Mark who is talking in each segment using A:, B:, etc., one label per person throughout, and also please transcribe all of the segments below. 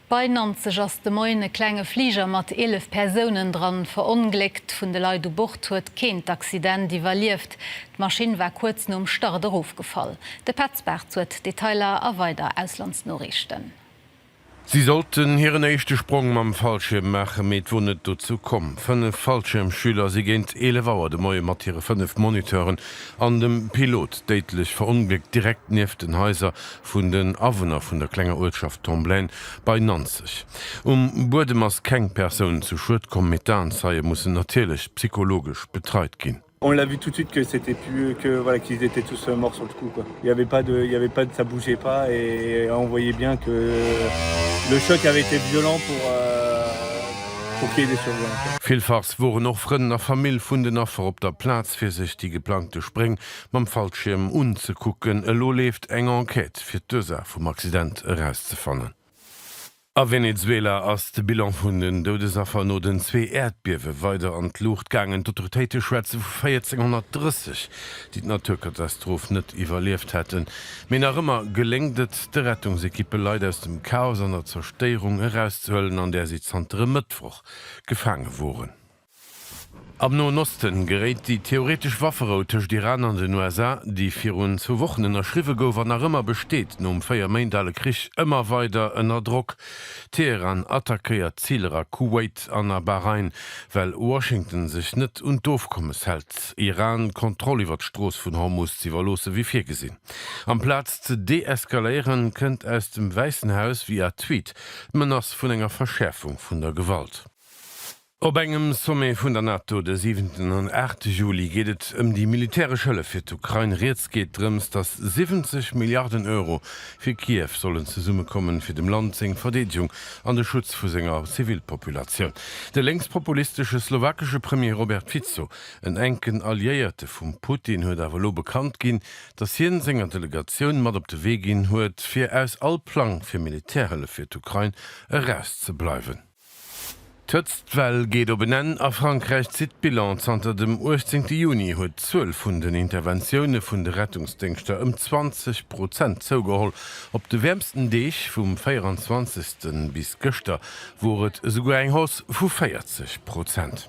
A: Bei Nanzeg ass de Moien e klenge Fliger mat 11 Persounen dran verongléckt. Vun de Leit u Bord huet keen d'Accident iwwerlieft. D'Maschinn war kuerz nom Start erofgefall. De Petz Bartz huet d'Detailer a weider Auslandsnoriichten.
B: Si sollten hiren éischte Sprong mam Fallschierm maachen, mee et wor net dozou komm. Fënnef Fallschiermschüler si géint 11 Auer de Moie mat hire fënnef Moniteuren an dem Pilot déidlech verongléckt, direkt nieft den Haiser vun den Awunner vun der klenger Uertschaft Tomblaine bei Nanzeg. Um Buedem ass keng Persoun zu Schued komm, mee d'Aenzeie mussen natierlech psychologesch betreit ginn. On l'a vu tout de suite que
C: c'etait plus eux, que voilà qu'ils étaient tous morts sur le coup quoi. Il y avait pas de, il y avait pas de, ça bougeait pas et on voyait bien que le choc avait été violent pour pour qu'il y ait des survivants. Villfachs woren och
B: Frënn a Famill vun den Affer op der Plaz fir sech déi geplangte Spréng mam Fallschierm unzekucken. Elo leeft eng Enquête, fir d'Ursaach vum Accident erauszefannen. A Venezuela ass de Bilan vun den Doudesaffer no den zwee Äerdbiewe weider an d'Luucht gaangen. D'Autoritéite schwätze vu 1430, déi d'Naturkatastroph net iwwerlieft hätten. Mee nach ëmmer geléngt et de Rettungsekippe Leit aus dem Chaos an der Zerstéierung erauszehuelen, an där si zanter e Mëttwoch gefaange woren. Am Noen Osten geréit déi theoretesch Wafferou tëscht Iran an den USA, déi virun zwou Wochen ënnerschriwwe gouf an nach ëmmer besteet, nom véier Méint ale Krich ëmmer weider ënner Drock. Teheran attackéiert Ziler a Kuwait an a Bahrain, well Washington sech net un d'Ofkommes hält, Iran d'Kontroll iwwer d'Strooss vun Hormus z'iwwerloossen, wéi virgesinn. Amplaz ze deeskaléieren, kënnt aus dem Wäissen Haus via Tweet d'Menace vun enger Verschäerfung vun der Gewalt. Op engem Sommet vun der NATO de siwenten an aachte Juli geet et ëm déi militäresch Hëllef fir d'Ukrain. Rieds geet drëms, datt 70 Milliarden Euro fir Kiew sollen zesummekommen, fir dem Land seng Verdeedegung an de Schutz vu senger Zivilpopulatioun. De lénkspopulistesche slowakesche Premier Robert Fico, en enken Alliéierte vum Putin, huet awer elo bekannt ginn, datt hien senger Delegatioun mat op de Wee ginn huet, fir aus all Plang fir Militärhëllef fir d'Ukrain erauszebleiwen. D'Hëtztwell geet op en Enn a Frankräich zitt d'Bilan. Zanter dem 18 Juni huet d'Zuel vun den Interventioune vun de Rettungsdéngschter ëm 20 Prozent zougeholl. Op de wäermsten Deeg, vum 24 bis gëschter, wor et esouguer eng Hausse vu 40 Prozent.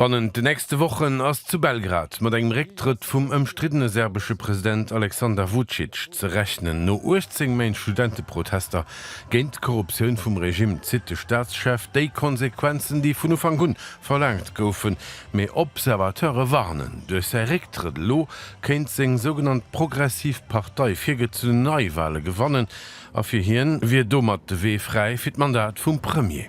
D: Bannent
B: de nächste Wochen ass zu Belgrad mat engem Récktrëtt vum ëmstriddene serbesche President Aleksander Vucic ze rechnen. No 18 Méint Studenteprotester géint d'Korruptioun vum Regimm zitt de Staatschef déi Konsequenzen, déi vun Ufank un verlaangt goufen. Mee Observateure warnen, duerch säi Récktrëtt elo kéint seng sougenannt progressiv Partei virgezunn Neiwale gewannen a fir hien wier domat de Wee fräi fir d'Mandat vum Premier.